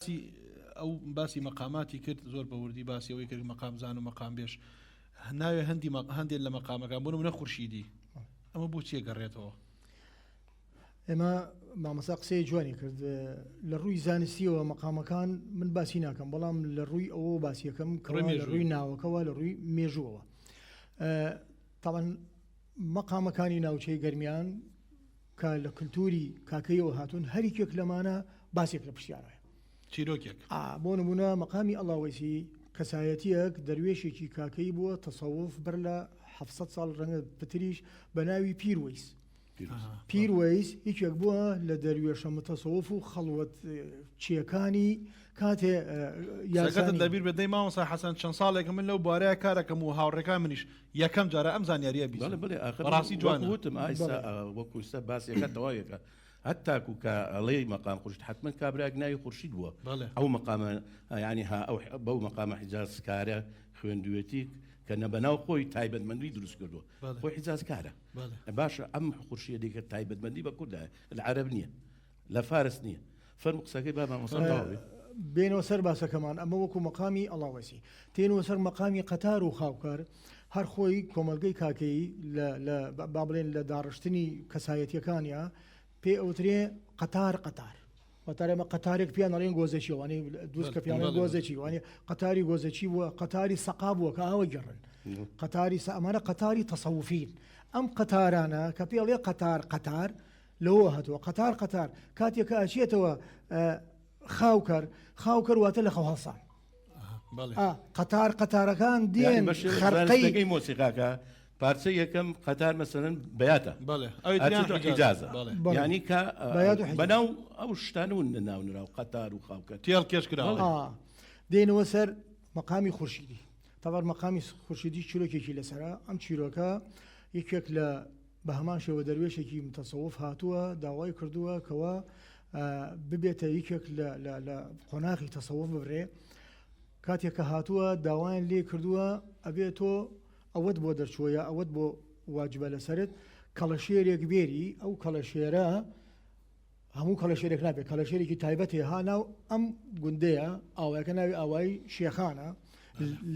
تی ئەو باسی مەقاماتی کرد زۆر بە وردی باسی ئەوەی کرد مەقام زان و مەقام بێش ناوێ هەندی هەندێک لە مەقامەکان بۆ منە خورشیدی ئەمە بۆ چیە گەڕێتەوە ئێمە مامەسا قسەی جوانی کرد لە ڕووی زانستیەوە مەقامەکان من باسی ناکەم بەڵام لە ڕووی ئەوە باسیەکەم کڕێ لە ڕووی ناوەکەەوە لە ڕووی مێژووەوە تاوان مەقامەکانی ناوچەی گەرمیان کە لە کلتوری کاکەییەوە هاتوون، هەریکێک لەمانە باسێک لە پرسیارایە. چیرۆکێک. ئا، بۆ نموونە مەقامی ئەڵاوەیسی، کەسایەتییەک، دەروێشێکی کاکەیی بووە، تەسەوف، بەر لە حەفت سەد ساڵ، رەنگە پتریش، بە ناوی پیر وەیس. پیر وەیس یەکێک بووە لە دەروێشە متەسەوف و خەڵوەت چییەکانی کاتی یارسانی. سەرکەتت لەبیر بێت دەی مامۆستا حەسەن، چەند ساڵێکە من لەو بوارەیا کارەکەم و هاوڕێکان منیش، یەکەم جارە ئەم زانیاریە بیسم بەڕاستی جوانە. بەڵێ بەڵێ ئاخر وەکو وتم ئای وەکو سە باسێکە تەواوێکە هەتاکو کە ئەڵێی مەقام خورشت حتمما کابراێک ناوی خورشید بووە ئەو مەقامە یانی ها ئەو بەو مەقامە حیجازکارە خوێندوێتی کە نە بەناو خۆی تایبەتمەندی دروست کردووە خۆی حیجازکارە باشە ئەم خورشیە دیکە تایبەتمەندی بە کوردە لە عرب نییە لە فارس نیە فەرمو قسەکەی با مامۆستا تەواو بێ. بێنەوە سەر باسەکەمان ئەمە وەکو مەقامی ئەڵاوەسی تێنەوە سەر مەقامی قەتار و خاوکار هەر خۆی کۆمەلگەی کاکەیی با بڵێن لە داڕشتنی کەسایەتیەکانیا پێ ئەوترێ قەتار قەتار واتە ئێمە قەتارێک پێیان ئەڵێن گۆزەچی وانەی دووست کە پێیان گۆزەچی وانێ قەتاری گۆزەچی بووە قەتاری سەقا بووە کە ئاوە گەڕن قەتاری سە ئەمانە قەتاری تەسەوفین ئەم قەتارانە کە پێڵێ قەتار قەتار لەوەوە هاتووە قەتار قەتار کاتێک کە ئەچێتەوە خاوکەر خاوکەر واتە لە خەو هەڵسان قەتار قەتارەکان دێن خەرقەی مۆسیقاکە پارچە یەکەم قەتار مەسەرن بەاتە ئەجازە ینی کە بەناو ئەو شتان و ناو نراو قەتار و خاوکە تێڵ کێش کرا دێنەوە سەر مەقامی خورشیدی تەوار مەقامی خورشیدی چیرۆکێکی لەسرە ئەم چیرۆکە یەکێک لە بە هەمان شێوە دەروێشێکی متەسەوف هاتووە داوای کردووە کەوا ببێتە یەکێک لە لە قۆناغی تەسەوف ببرێ کاتێک کە هاتووە داوایان لێ کردووە ئەبێت تۆ ئەوەت بۆ دەرچووە یا ئەوەت بۆ واجبە لەسرت کەڵەشێرێک بێری ئەو کەڵەشێرە هەموو کەڵەشێرێک نابێت کەڵەشێرێکی تایبەت هەیە ها ناو ئەم گوندەیە ئاوایەکە ناوی ئاوایی شێخانە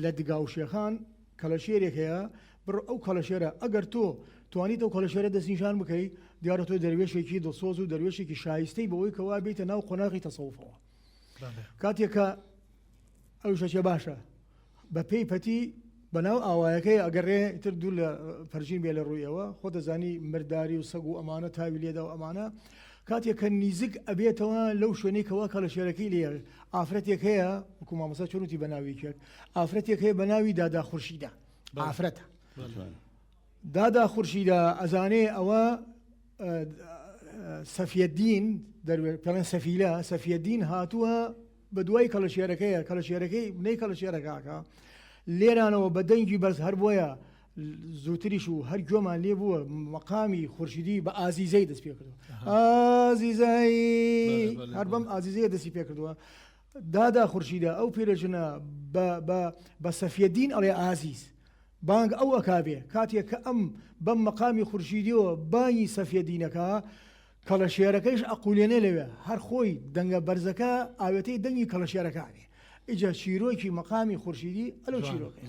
لە دگا و شێخان کەڵەشێرێک هەیە بڕ ئەو کەڵەشێرە ئەگەر تۆ توانیت ئەو کەڵەشێرە دەستنیشان بکەی دیارە تۆ دەروێشێکی دڵسۆز و دەروێشێکی شایستەی بەوەی کەوا بیتە ناو قۆناغی تەسەوفەوە کاتێکە ئەو شەشە باشە بە پێی پەتی بەناو ئاوایەکەی ئەگەڕێ تر دوور لە پەرژین بێ لە ڕوویەوە خۆ دەزانی مرداری و سەگ و ئەمانە تاوی لێدا و ئەمانە کاتێک کە نیزیک ئەبێتەوە لەو شوێنەی کەوا کە لە شێرەکەی لێ ئافرەتێک هەیە وکو مامەسا چۆنوتی بەناوی کرد ئافرەتێک هەیە بە ناوی دادا خورشیدا ئافرەتە دادا خورشیدا ئەزانێ ئەوە سەفیەدین دەروێت پێڵێن سەفیلە سەفیەدین هاتووە بە دوای کەڵەشێرەکەیە، کەڵەشێرەکەی بنەی کەڵەشێرەکاکە، لێرانەوە بە دەنگی بەرز هەر بۆیە زووتریش و هەر گوێمان لێ بووە مەقامی خورشیدی بە ئازیزەی دەست پێ کردو ئازیزای هەر بەم ئازیزەیە دەستی پێ کردووە دادا خورشیدە ئەو پیرەژنە بە سەفیەدین ئەڵێ ئازیز بانگ ئەو ئەکاوێ کاتێک کە ئەم بەم مەقامی خورشیدیەوە بانی سەفیەدینەکە کەڵەشێرەکەیش ئەقولێنێ لەوێ هەر خۆی دەنگە بەرزەکە ئاوێتەی دەنگی کەڵەشێرەکانێ ئیجا چیرۆکی مەقامی خورشیدی ئەلەو چیرۆکەیە.